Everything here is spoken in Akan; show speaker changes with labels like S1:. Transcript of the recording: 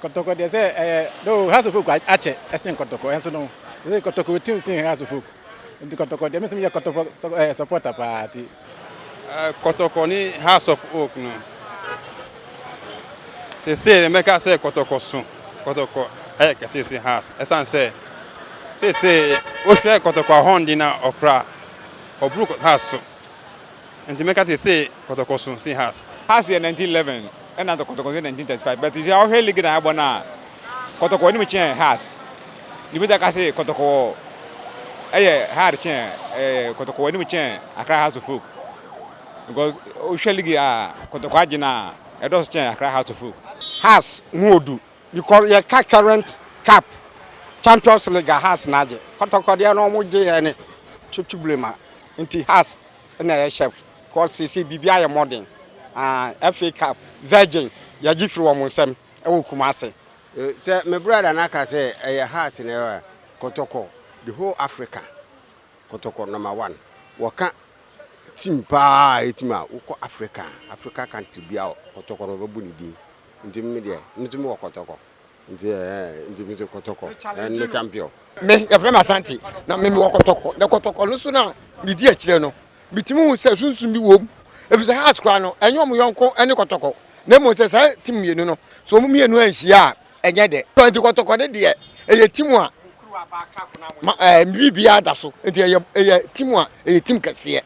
S1: Kɔtɔkɔ deɛ sɛ ɛyɛ though house of folk akyɛ ɛsen kɔtɔkɔ ɛnso no sɛ kɔtɔkɔ otim sen house of folk nti kɔtɔkɔ deɛ mesem yɛ kɔtɔkɔ ɛyɛ supporter paa ti.
S2: Kɔtɔkɔ ne house of oak no sese ne mɛka sɛ kɔtɔkɔ so kɔtɔkɔ ɛyɛ kɛse se house ɛsan sɛ sese wohwɛ kɔtɔkɔ ahɔn de na ɔkora ɔburu house so Nti meka se se kɔtɔkɔ so se has. Has yɛ 1911
S3: ɛna kɔtɔkɔ nso yɛ 1935 but sɛ wohwɛ league na yɛabɔ no a kɔtɔkɔ anim kyɛn has. Nti wobɛtumi aka se kɔtɔkɔ ɛyɛ hard kyɛn ɛɛ kɔtɔkɔ anim kyɛn Accra Hearts of Oak because wohwɛ league a kɔtɔkɔ agye no a ɛdɔɔso kyɛn Accra Hearts of Oak. Has ho
S4: odu because yɛka current cup champions league a has na agye. Kɔtɔkɔ deɛ no wɔgye yɛ ne twetwebirem a Nti Hass na ɛyɛ chef cause seesei biribiara ayɛ modern aah FA cup virgin yɛgye firi wɔn nsam ɛwɔ Kumasi. Sɛ me
S5: brother no aka sɛ ɛyɛ Hass na ɛyɛ a, kɔtɔkɔ the whole Africa kɔtɔkɔ number one wɔka team paa a ɛyɛ team a wokɔ Africa Africa country biara kɔtɔkɔ na wɔbɛbɔ ne din nti me deɛ me nso mewɔ kɔtɔkɔ. Nti ɛɛ nti mi se kɔtɔkɔ ɛn ne champion. Me yɛfrɛ me
S4: Asante na me mewɔ kɔtɔkɔ na kɔtɔkɔ no so na medi akyire no metumi hu sɛ sunsum bi wɔ mu ɛfiri sɛ Hearts koraa no ɛnyɛ wɔn yɔnko ne kɔtɔkɔ na mmom sɛ saa team mmienu no sɛ wɔn mmienu anhyia a ɛnyɛ dɛ nti kɔtɔkɔ no deɛ ɛyɛ team a ma ɛɛ biribiara da so nti ɛyɛ ɛyɛ team a ɛyɛ team kɛseɛ.